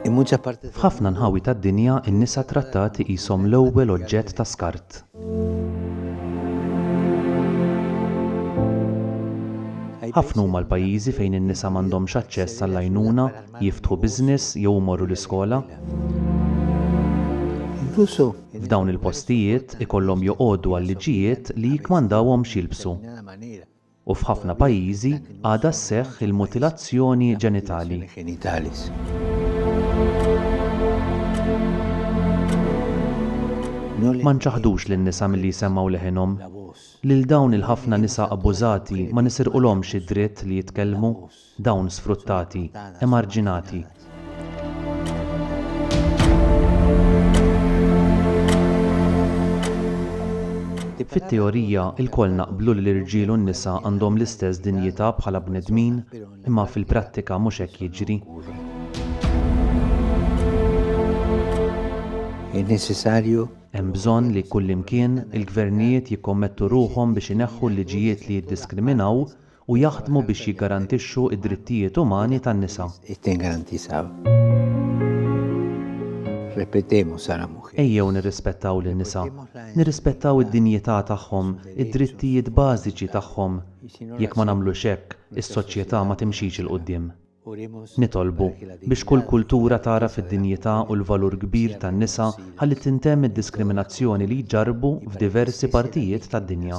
F'ħafna nħawi tad-dinja, in-nisa trattati qishom l-ewwel oġġett ta' skart. Ħafna huma l-pajjiżi fejn in-nisa m'għandhomx aċċess għall-għajnuna, jiftħu business jew imorru l-iskola. f'dawn il-postijiet ikollhom joqogħdu għal-liġijiet li jikkmandawhom x'jilbsu. U f'ħafna pajjiżi għadha sseħħ il-mutilazzjoni ġenitali. Ma nċaħħdux lin-nisa milli jsemmgħu leħinhom. Lil dawn il-ħafna nisa abbużati ma nisirqulhomx id-dritt li jitkellmu. dawn sfruttati, emarġinati. Fit-teorija, ilkoll naqblu li l-irġiel u n-nisa għandhom l-istess dinjità bħala bnedmin, imma fil-prattika mhux hekk jiġri. Hemm bżonn li kullimkien, il-gvernijiet jikkommettu ruħhom biex ineħħu l-liġijiet li jiddiskriminaw u jaħdmu biex jiggarantixxu d-drittijiet umani tan-nisa. Ejjew nirrispettaw lin-nisa, nirrispettaw id-dinjità tagħhom, id-drittijiet bażiċi tagħhom. Jekk ma nagħmlux hekk, is-soċjetà ma timxix 'il quddiem. Nitolbu biex kull kultura tagħraf id-dinjità u l-valur kbir tan-nisa ħalli tintemm id-diskriminazzjoni li jġarrbu f'diversi partijiet tad-dinja.